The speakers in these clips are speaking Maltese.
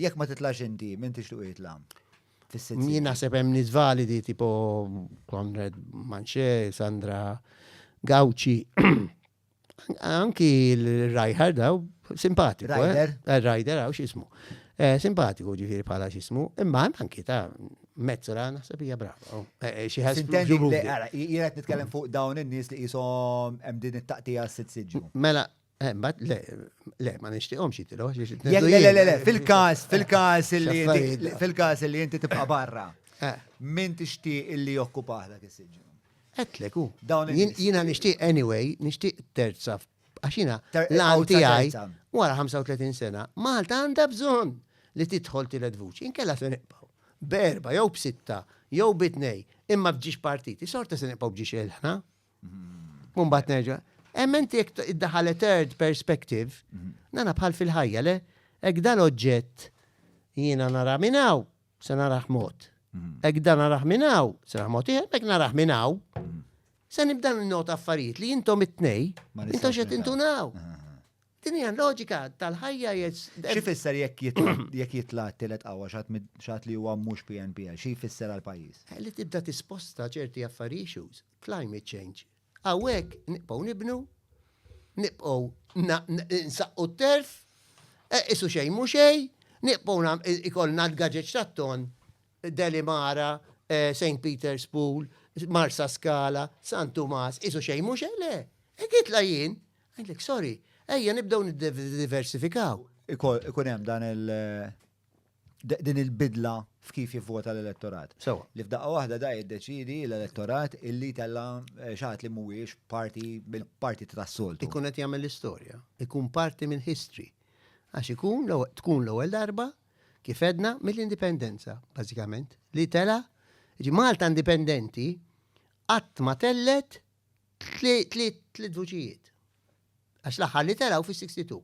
Jekk ma titlax inti, min tixtuq jitla? Min naħseb hemm nies validi tipo Konrad Manche, Sandra Gauci. Anki l-Rajhar daw simpatiku. Eh? Rider. Eh, Rider għaw xismu. Eh, simpatiku ġifiri bħala xismu. Imma anki ta' mezzola naħseb hija brava. Oh, xi ħadd. Jiena qed nitkellem fuq dawn in-nies li qishom hemm din it-taqtija s-sitt Mela, Eh, Bat, le, le, ma nishtiqom xie tilu, xie Le, le, le, le, le, fil-kas, fil-kas illi inti- Xaffarijiet. fil-kas illi inti tibqa' barra. Eh. Min tixtieq illi jokkupah dak is-siġġu? Etlek, u. Dawn Jien- in-nies. Jiena nixtieq anyway, nixtieq terza, f- għax jiena Ter- l-għan għawza tiegħi terza. wara 35 sena, Malta għandha bżonn li tidħol tielet vuċi, inkella se nibqgħu. Berba, jew b'sitta, jew bitnej, imma bġiex partiti, sorta se nibqgħu bġiex ilħna. Mumbat nerġa. Emmenti jek id-daħale third perspective, mhm. nana bħal fil-ħajja, le? Ek dal oġġett jiena nara minnaw, se naraħ mod. Mhm. Ek dan naraħ minnaw, se naraħ mod iħer, ek naraħ minnaw. Mhm. Se nibdan n-not affarijiet li jintom it-tnej, jintom xed intunaw. Din hija loġika tal-ħajja Xi fisser jekk jitla' t-tielet qawwa xat li huwa mhux PNPL, xi jfisser għal pajjiż? Eh, li tibda tisposta ċerti affarijiet Climate change. Hawnhekk nibqgħu nibnu, nibqgħu nsaqqu t-telf, e, qisu xejn mhu xejn, nibqgħu nam- i- ikollna l-gaġeġ tat-tonn, Delimara, e, St. Peter's Pool, Marsaskala, San Tumas, qisu xejn mhu xejn, le! Hekk nitla' jien, ngħidlek, sorry, ejja nibdew niddiversifikaw. Iko- ikun hemm dan il- din il-bidla f'kif jivvota l-elettorat. Sewa. Li f'daqqa waħda da jiddeċidi l-elettorat illi tella eh, xaħat li mhuwiex parti bil-parti tas-soltu. Ikun qed jagħmel l-istorja, ikun parti minn history. Għax ikun tkun l-ewwel darba kif edna mill-indipendenza, bażikament, li tela ġi Malta indipendenti qatt ma tellet tliet vuċijiet. Għax l-aħħar li telaw fis-62,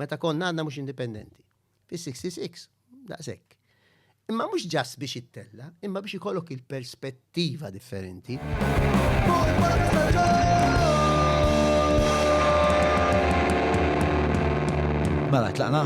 meta konna għadna mhux indipendenti. Fis-66, daqshekk. Imma mhux ġass biex ittella, imma biex ikollok il-perspettiva differenti. Mela, tlaqna?